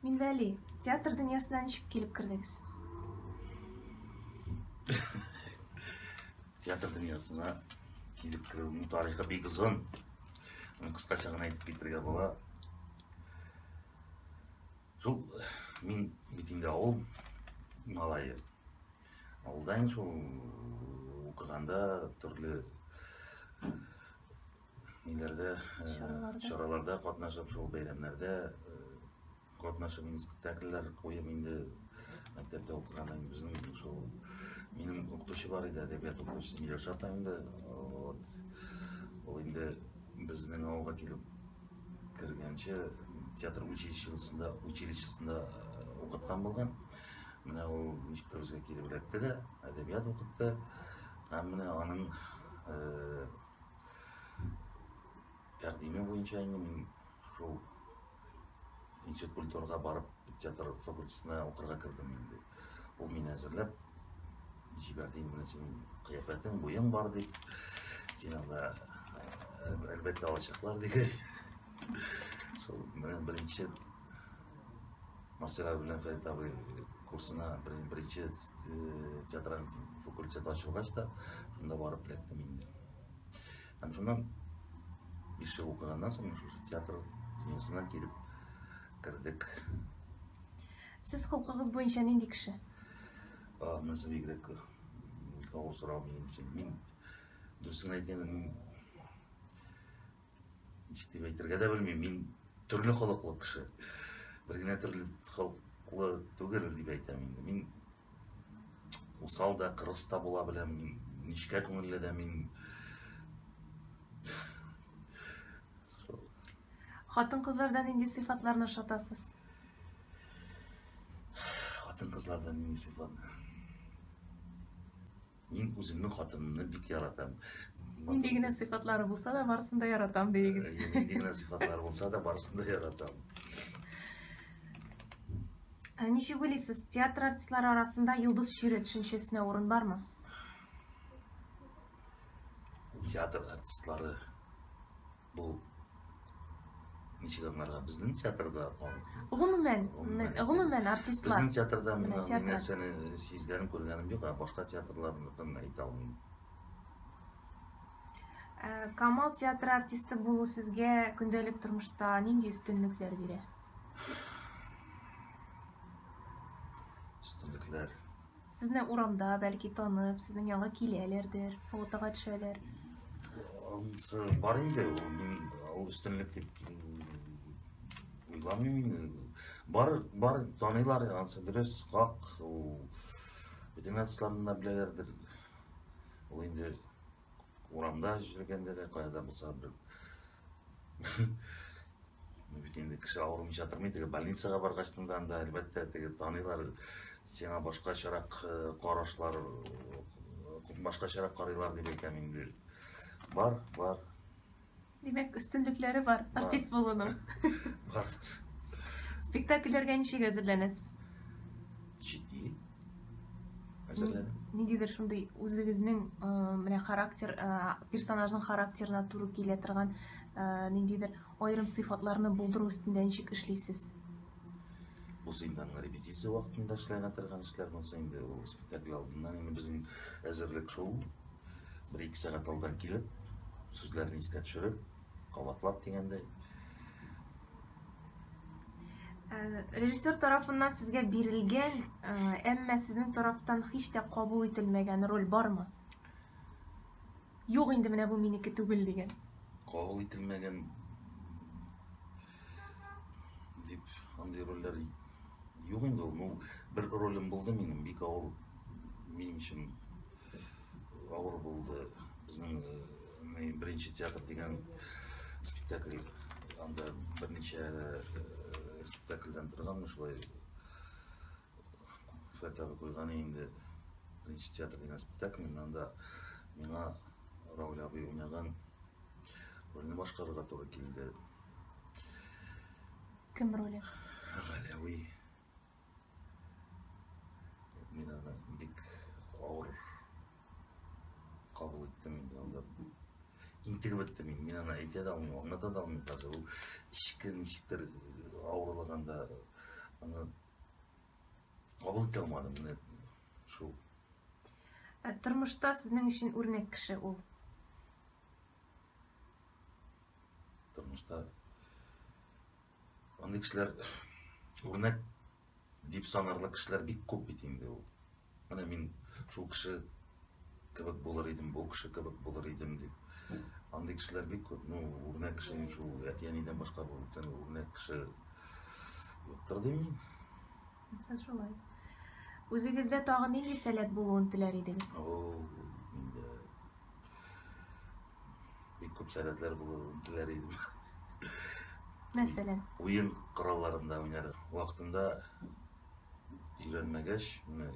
Минвәли, театр дөньясына ничек килеп кердегез? театр дөньясына килеп керүемнең тарихы бик озын. Аны кыскача гына әйтеп китергә була. Шул мин бит инде авыл малае. Авылда инде шул укыганда төрле ниләрдә, э, Чараларда. чараларда катнашып, шул бәйрәмнәрдә э, катнашып, инде спектакльләр куеп инде мәктәптә укыганда инде безнең шул минем укытучы бар иде, әдәбият укытучысы Миләүшә апа инде. Вот. Ул инде безнең авылга килеп кергәнче театр училищесында училищесында э, укыткан булган. Менә ул ничектер үзгә килеп эләкте дә, әдәбият укытты. Һәм менә аның э, Тәкъдиме буенча инде мин шул институт культурага барып театр факультетына укырга кердем инде. Ул мине әзерләп җибәрде инде менә синең кыяфәтең, буең бар дип. Син анда әлбәттә алачаклар дигәч. Шул менә беренче Марсель абый белән Фәрит абый курсына беренче театраль факультет ачылгач та, шунда барып эләктем инде. Һәм шуннан биш ел укыганнан соң шушы театр дөньясына килеп кердек. Сез холкыгыз буенча нинди кеше? А, монысы бигрәк авыр сорау минем өчен. Мин дөресен әйткәндә, мин ничек дип әйтергә дә белмим, мин төрле холыклы кеше. Бер генә төрле холыклы түгел дип әйтәм инде. Мин усал да, кырыс та була беләм, мин нечкә күңелле дә, мин Хатын-кызлардан нинди сыйфатларны ошатасыз? Хатын-кызлардан нинди сыйфат? Мин үземнең хатынымны бик яратам. Нинди генә сыйфатлары булса да, барысын да яратам диегез. Э, нинди генә сыйфатлары булса да, барысын да яратам. Ә ничек уйлыйсыз, театр артистлары арасында йолдыз чире төшенчәсенә урын бармы? Театр артистлары Бу ничек аңларга? Безнең театрда ул Гомумән, мен- гомумән артистлар. Безнең театрда мин Менә андый театр. нәрсәне сизгәнем, күргәнем юк, ә башка театрларныкын әйтә алмыйм. Ә, Камал театры артисты булу сезгә көндәлек тормышта нинди өстенлекләр бирә? Өстенлекләр. Сезне урамда, бәлки, танып, сезнең янга киләләрдер, фотога төшәләр. Анысы бар инде, ул мин ул өстенлек дип уйламыйм инде. Бар, бар таныйлар, анысы дөрес, хак. Ул бөтен артистларны да беләләрдер. Ул инде урамда йөргәндә дә, кайда булса бер бит инде кеше авырмыйча тормый теге больницага баргачтан да анда әлбәттә теге таныйлар сиңа башкачарак э, карашлар э, башкачарак карыйлар дип әйтәм инде бар бар димәк өстенлекләре бар артист булуның бар спектакльләргә ничек әзерләнәсез җитди әзерләдем. Нидидер шундый үзегезнең менә характер, персонажның характерына туры килә торган ниндидер аерым сыйфатларны булдыру өстендә ничек эшлисез? Бу инде репетиция вакытында эшләгән торган эшләр булса инде ул спектакль алдыннан инде безнең әзерлек шул. Бер-ике сәгать алдан килеп, сүзләрне искә төшереп, кабатлап дигәндәй. Ә, режиссер тарафыннан сезгә бирелгән, ә, әмма сезнең тарафтан һич тә кабул ителмәгән роль бармы? Юк инде менә бу минеке түгел дигән. Кабул ителмәгән дип андый рольләр юк инде ул. Ну, бер ролем булды минем, бик авыр минем өчен авыр булды. Безнең э, Мин беренче театр дигән спектакль анда берничә спектакльдән торганмы шулай фәтәвә куйганы инде беренче театр дигән спектакль мин анда миңа Рауль абый уйнаган рольне башкарырга туры килде. Кем роле? Галәви. Мин аны бик авыр кабул иттем инде анда. Интегеп беттем мин, мин аны әйтә дә алмыйм, аңлата да алмыйм даже. Ул эчке ничектер авырлыгында аны кабул итә алмадым. Менә шул. Ә тормышта сезнең өчен үрнәк кеше ул? Тормышта Андый кешеләр үрнәк дип санарлык кешеләр бик күп бит инде ул. Менә мин шул кеше кебек булыр идем, бу кеше кебек булыр идем дип. Андый кешеләр бик күп. Ну, үрнәк кеше шул әти-әнидән башка бу бүтән үрнәк кеше юктыр дим мин. Булса шулай. Үзегездә тагын нинди сәләт булуын теләр идегез? О, бик күп сәләтләр булуын теләр идем. Мәсәлән. Уен коралларында уйнар. Вакытында өйрәнмәгәч, менә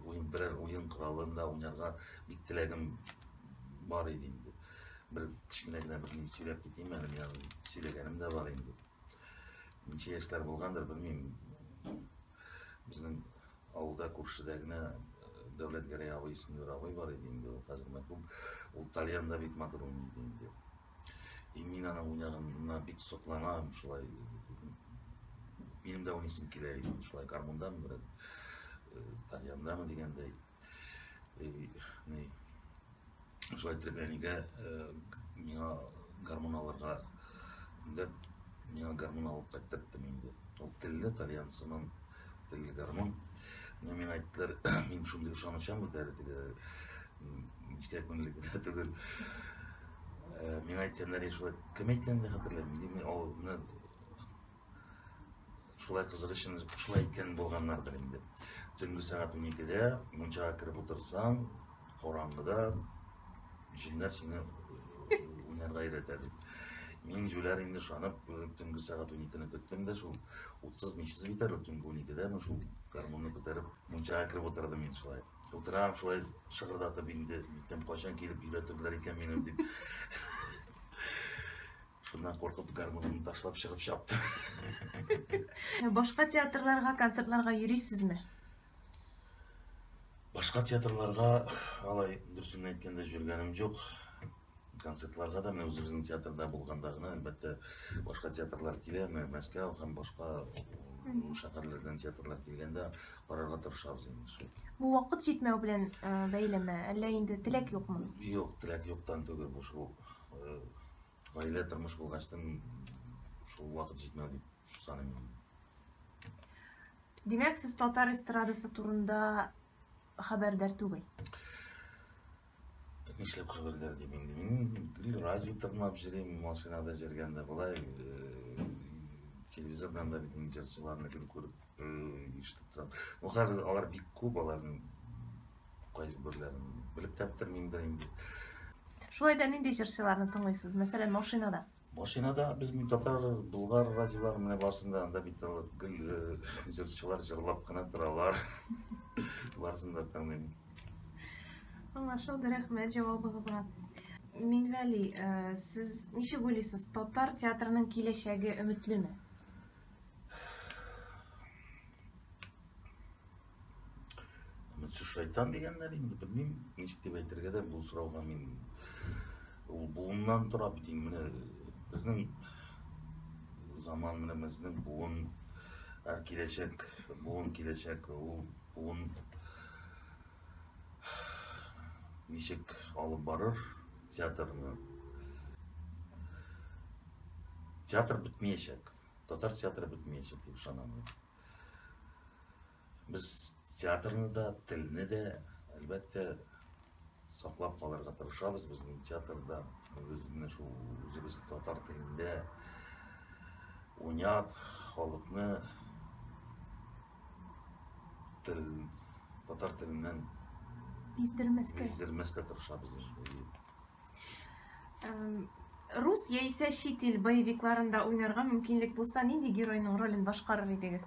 уен берәр уен коралында уйнарга бик теләгем бар иде инде. Бер кечкенә генә бер мин сөйләп китим әле, миңа сөйләгәнем дә бар инде. Ничә яшьләр булгандыр, белмим. Безнең Авылда күршедә генә Дәүләтгәрәй абый исемле бер абый бар иде инде, ул хәзер мәрхүм. Ул тальян да бик матур уйный иде инде. И мин аның уйнаганына бик сокланам, шулай минем дә уйныйсым килә иде, шулай гармундамы бераз, тальяндамы дигәндәй. Ни, шулай итеп әнигә э, миңа гармун алырга дәп миңа гармун алып кайттырттым инде ул телле тальянцының телле гармун но миңа әйттеләр мин шундый ышанычам бит әле теге нечкә күңелле генә түгел э, миңа әйткәннәр шулай кем әйткәнен дә хәтерләмим мин ул Шулай кызык өчен шулай иткән булганнардыр инде. Төнге сәгать 12-дә мунчага кереп утырсаң, караңгыда җиннәр сине э, уйнарга өйрәтә дип. Мин җүләр инде шанып, э, төнге сәгать 12-ны көттем дә шул. Утсыз ничсез битәр, төнге 12-дә мен шул гармунны күтәреп, мунчага кереп утырдым мин шулай. Утырам шулай шыгырдатып инде, кайчан килеп өйрәтерләр икән мине дип. Шуннан куркып гармунымны ташлап чыгып чаптым. Ә Башка театрларга, концертларга йөрисезме? Башка театрларга алай дөресен әйткәндә җөргәнем юк. Концертларга да менә үзебезнең театрда булганда гына, әлбәттә, башка театрлар килә, менә Мәскәү һәм башка м, шәһәрләрдән театрлар килгәндә карарга тырышабыз инде шул. Бу вакыт җитмәү белән э, бәйлеме, әллә инде теләк юкмы? Юк, теләк юктан түгел, бу шул э, Гаилә тормыш булгачтын шул вакыт җитмәү дип саныйм. Димәк, сез татар эстрадасы турында хәбәрдар түгел. Нишләп хәбәрдар дип инде мин радио тыңлап җөрим, машинада җөргәндә болай э, телевизордан да бит җырчыларны күреп э, ишетеп торам. Бу хәзер алар бик күп аларның Кайсы бирләрен белеп тә бетермим дә инде. Шулай да нинди җырчыларны тыңлыйсыз? Мәсәлән, машинада. Машинада без мин татар, булгар радиолары менә барсын да анда бит гел җырчылар җырлап кына торалар. Барсын да тыңлыйм. Аңлашылды, рәхмәт җавабыгызга. Минвәли, сез ничек уйлыйсыз, татар театрының киләчәге өметлеме? Үтсү шайтан дигәннәр инде, белмим, ничек дип әйтергә дә бу сорауга мин ул буыннан тора бит инде. Менә безнең заман менә безнең буын ә киләчәк, буын киләчәк, ул буын ничек алып барыр театрны? Театр бетмәячәк. Татар театры бетмәячәк дип ышанам. Без театрны да, телне дә, әлбәттә, саклап калырга тырышабыз. Безнең театрда без менә шул үзебез татар телендә уйнап, халыкны тел, татар теленнән Биздермәскә. биздермәскә тырышабыз. Рус яисә чит ил боевикларында уйнарга мөмкинлек булса, нинди геройның ролен башкарыр идегез?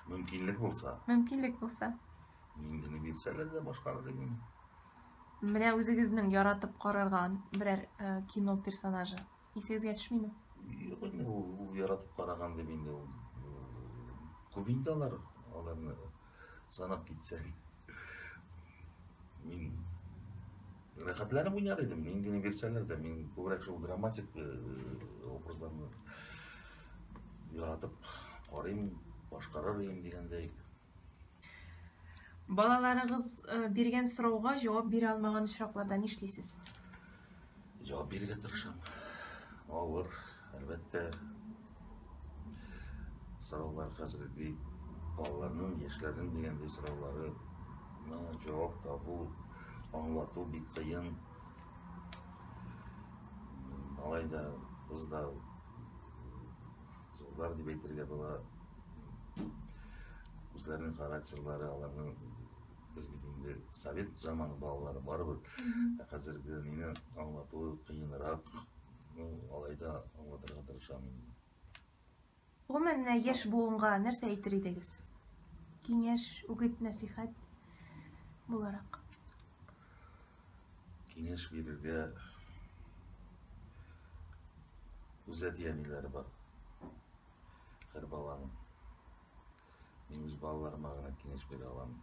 Мөмкинлек булса. Мөмкинлек булса. Инде ни бирсәләр дә башкарыр идем. Менә үзегезнең яратып карарга берәр э, кино персонажы. Исегезгә төшмиме? Юк инде ул, ул яратып караган дип инде ул. Күп инде алар, аларны санап китсәң. Мин рәхәтләнеп уйнар идем, мин генә бирсәләр дә, мин күбрәк шул драматик э, образларны яратып карыйм, башкарыр идем дигәндәй. Балаларыгыз э, биргән сорауга җавап бирә алмаган очракларда нишлисез? Җавап бирергә тырышам. Авыр, әлбәттә. Сораулар хәзерге балаларның яшьләрнең дигәндәй сораулары җавап табу, аңлату бик кыен. Алай да кыз да зурлар дип әйтергә була. Үзләренең характерлары, аларның без бит инде совет заманы балалары барыбер. Ә хәзерге мине аңлатуы кыенрак. Ну, алай да аңлатырга тырышам инде. Гомумән, менә яшь буынга нәрсә әйтер идегез? Киңәш, үгет, нәсихәт буларак. киңәш бирергә үз әти-әниләре бар. Һәр баланың. Мин үз балаларыма гына киңәш бирә аламын.